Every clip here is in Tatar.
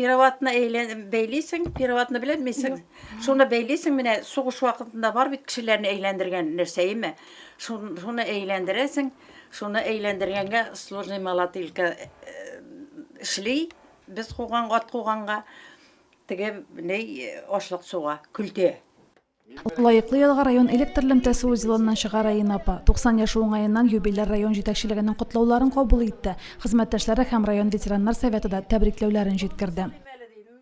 Переватны әйлән бәйлисең, переватны беләмисең. Шуны бәйлисең, менә сугыш вакытында бар бит кешеләрне әйләндергән нәрсә име? Шуны әйләндерәсең, шуны әйләндергәнгә сложный малатилка э, эшли, без куган ат куганга теге ней ашлык суга, көлтә. Лаеклы ялга район электр лемтәсе узелыннан чыга Раина апа. 90 яше уңаеннан юбиляр район җитәкчелегенең котлауларын кабул итте. Хезмәттәшләре һәм район ветераннар советы да тәбрикләүләрен җиткерде.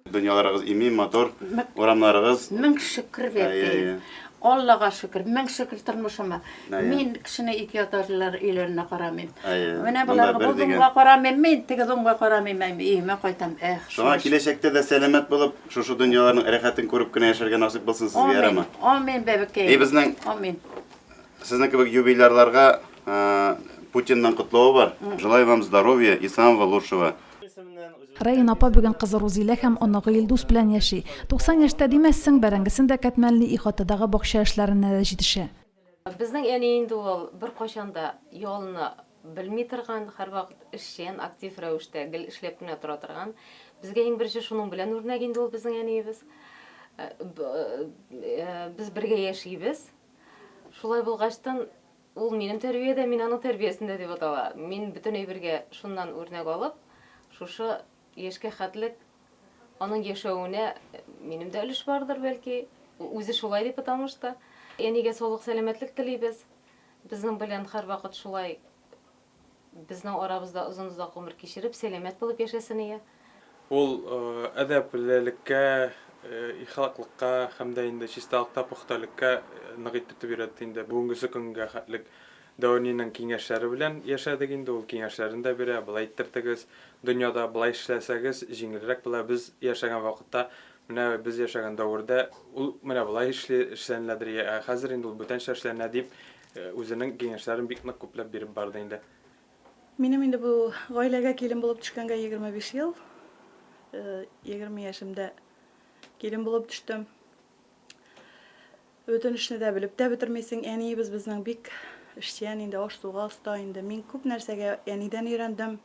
Дөньяларыгыз имин, матур урамнарыгыз. Мең шөкер бәбкәем. Аллага шөкер. Мең шөкер тормышыма. Мин кешене ике ятарлылар өйләренә карамыйм. Менә болар бу зонга карамыйм мин, теге зонга карамыйм, өемә кайтам. Эх. Шуңа киләчәктә дә сәламәт булып, Шушы дөньяларның рәхәтен күреп кенә яшәргә насыйп булсын сезгә, ярама. Амин, бәбекәй. И безнең Амин. Сезнең кебек юбилярларга Путинның котлавы бар. Желаю вам здоровья и самого лучшего. Рәен апа бүген кызы Рузилә һәм оныгы Илдус белән яши. 90 яшьтә димәссең, бәрәңгесен дә кәтмәлни, ихатадагы бакча эшләренә дә җитешә. Безнең әни инде ул беркайчан да ялына белми торган, һәрвакыт эшчән, актив рәвештә гел эшләп кенә тора торган. Безгә иң беренче шуның белән үрнәк инде ул безнең әниебез. Без бергә яшибез. Шулай булгачтын, ул минем тәрбиядә, мин аның тәрбиясендә дип атала. Мин бөтен әйбергә шуннан үрнәк алып, шушы Яшькә хәтлек, аның яшәвенә минем дә өлеш бардыр, бәлки, ул үзе шулай дип ыталмыш та. Әнигә саулык-сәламәтлек телибез. Безнең белән һәрвакыт шулай безнең арабызда озын-озак гомер кичереп, сәламәт булып яшәсен ия. Ул әдәплелеккә, ихлаклыкка һәм дә инде чисталыкта пөхтәлеккә нык итеп өйрәтте инде бүгенгесе көнгә хәтлек. Дәүрниның киңәшләре белән яшәдек инде, ул киңәшләрен дә бирә, болай иттертегез, дөньяда болай эшләсәгез, җиңелрәк була, без яшәгән вакытта, менә без яшәгән дәвердә ул менә болай эшли, эшләнеләдер, йә ә хәзер инде ул бүтәнчә эшләнә, дип, үзенең киңәшләрен бик нык күпләп биреп барды инде. Минем инде бу гаиләгә килен булып төшкәнгә егерме биш ел. Егерме яшемдә килен булып төштем. Бөтен эшне дә белеп тә бетермисең. Әниебез безнең бик эшчән инде, аш-суга оста инде. Мин күп нәрсәгә әнидән өйрәндем.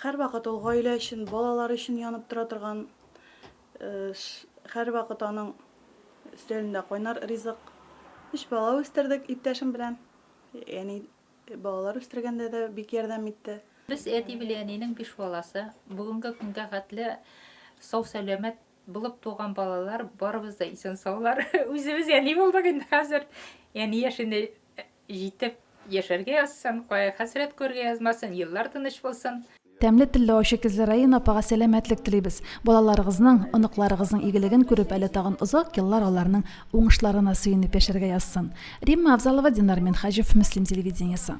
Һәрвакыт ул гаилә өчен, балалар өчен янып тора торган, һәрвакыт аның өстәлендә кайнар ризык. Өч бала үстердек иптәшем белән. Әни балалар үстергәндә дә бик ярдәм итте. Без әти белән әнинең биш баласы. Бүгенге көнгә хәтле сау-сәламәт Булып туган балалар, барыбыз да исән-саулар. Үзебез әни булдык инде хәзер. Әни яшенә җитеп яшәргә язсын, кая хәсрәт күрергә язмасын, еллар тыныч булсын. Тәмле телле ачы күзле Раина апага сәламәтлек телибез. Балаларыгызның, оныкларыгызның игелеген күреп әле тагын озак еллар аларның уңышларына сөенеп яшәргә язсын. Римма Авзалова, Динар Минхаҗев, Мөслим телевидениесе.